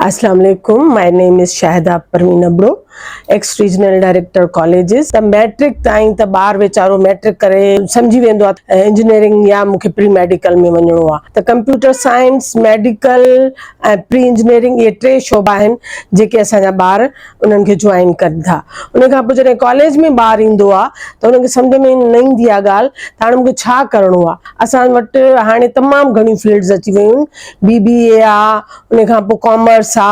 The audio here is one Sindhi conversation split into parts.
اسلام عليڪم my name is Shahida Parveen Abro ex regional director colleges ته ميٽرڪ تائين ته ٻار ويچارو ميٽرڪ ڪري سمجهي ويندو آهي انجنيئرنگ يا مونکي پري ميڊيڪل ۾ وڃڻو آهي ته computer science medical ۽ pre engineering اهي ٽي شعبا آهن جيڪي اسان جا ٻار انهن کي جوائن ڪن ٿا ان کان پوء جڏهن ڪاليج ۾ ٻار ايندو آهي ته ان کي سمجهه ۾ نه ايندي آهي ڳالهه ته هاڻي مونکي ڇا ڪرڻو آهي اسان وٽ هاڻي تمام گهڻيون فيلڊز اچي ويون آهن بي بي اي آهي ان کان پوء ڪامرس آ،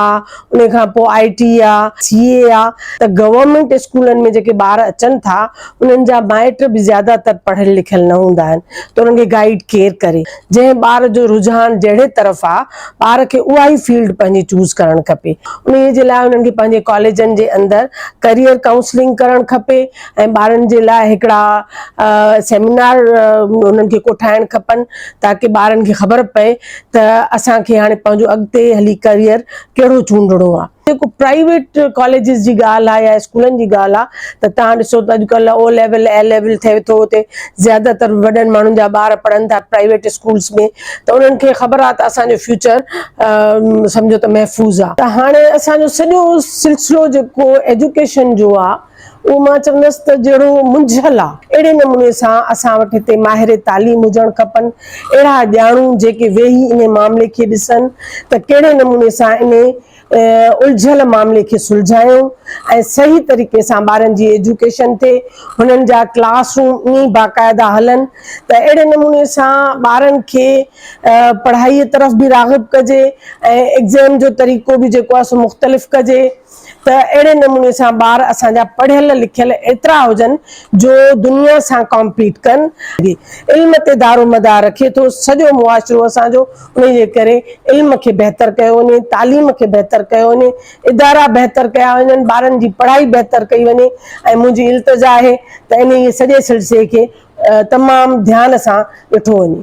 ان کان پوء آء ٽي آ، سي اي آ ته گورنمينٽ اسڪولن ۾ جيڪي ٻار اچن ٿا انهن جا مائٽ به زياده تر پڙهيل لکيل نه هوندا آهن ته انهن کي گائيڊ ڪير ڪري؟ جنهن ٻار جو رجحان جهڙي طرف آ ٻار کي اها ئي فيلڊ پنهنجي چوز ڪرڻ کپي. انهيء جي لاء انهن کي پنهنجي ڪاليجن جي اندر ڪريئر ڪائونسلنگ ڪرڻ کپي. ۽ ٻارن جي لاء هڪڙا سيمينار انهن کي ڪوٺائڻ کپن تاڪه ٻارن کي خبر پئي ته اسان کي هاڻي پنهنجو اڳتي هلي ڪريئر ڪهڙو چونڊڻو آهي. جيڪو پرائيويٽ ڪاليجز جي ڳالهه آهي يا اسڪولن جي ڳالهه آهي ته تهان ڏسو ته اڄڪلهه او ليول اي ليول ٿئي ٿو اتي زياده تر وڏن ماڻهن جا ٻار پڙهن ٿا پرائيويٽ اسڪولز ۾ ته انهن کي خبر آهي ته اسان جو فيوچر سمجهو ته محفوظ آهي ته هاڻي اسان جو سڄو سلسلو جيڪو ايجوڪيشن جو آهي اهو مان چوندس ته جهڙو منجهيل آ، اهڙي نموني سان اسان وٽ هتي ماهر تعليم هجڻ کپن، اهڙا ڄاڻو جيڪي ويهي انهي معاملي کي ڏسن ته ڪهڙي نموني سان انهي الجهيل معاملي کي سلجهايون ۽ صحيح طريقي سان ٻارن جي ايجوڪيشن ٿئي، هنن جا ڪلاس روم ائين ئي باقاعده هلن ته اهڙي نموني سان ٻارن کي پڙهائي طرف به راغب ڪجي ۽ ايگزيم جو طريقو به جيڪو آ سو مختلف ڪجي. ته اهڙي نموني سان ٻار اسان جا پڙهيل لکيل ايترا هجن جو دنيا سان ڪامپيٽ ڪن. علم تي دارومدار رکي ٿو سڄو معاشرو اسان جو انهي جي ڪري علم کي بهتر ڪيو وڃي تعليم کي بهتر ڪيو وڃي ادارا بهتر ڪيا وڃن ٻارن جي پڙهائي بهتر ڪئي وڃي ۽ منهنجي التجا آهي ته انهي سڄي سلسلي کي تمام ڌيان سان ڏٺو وڃي.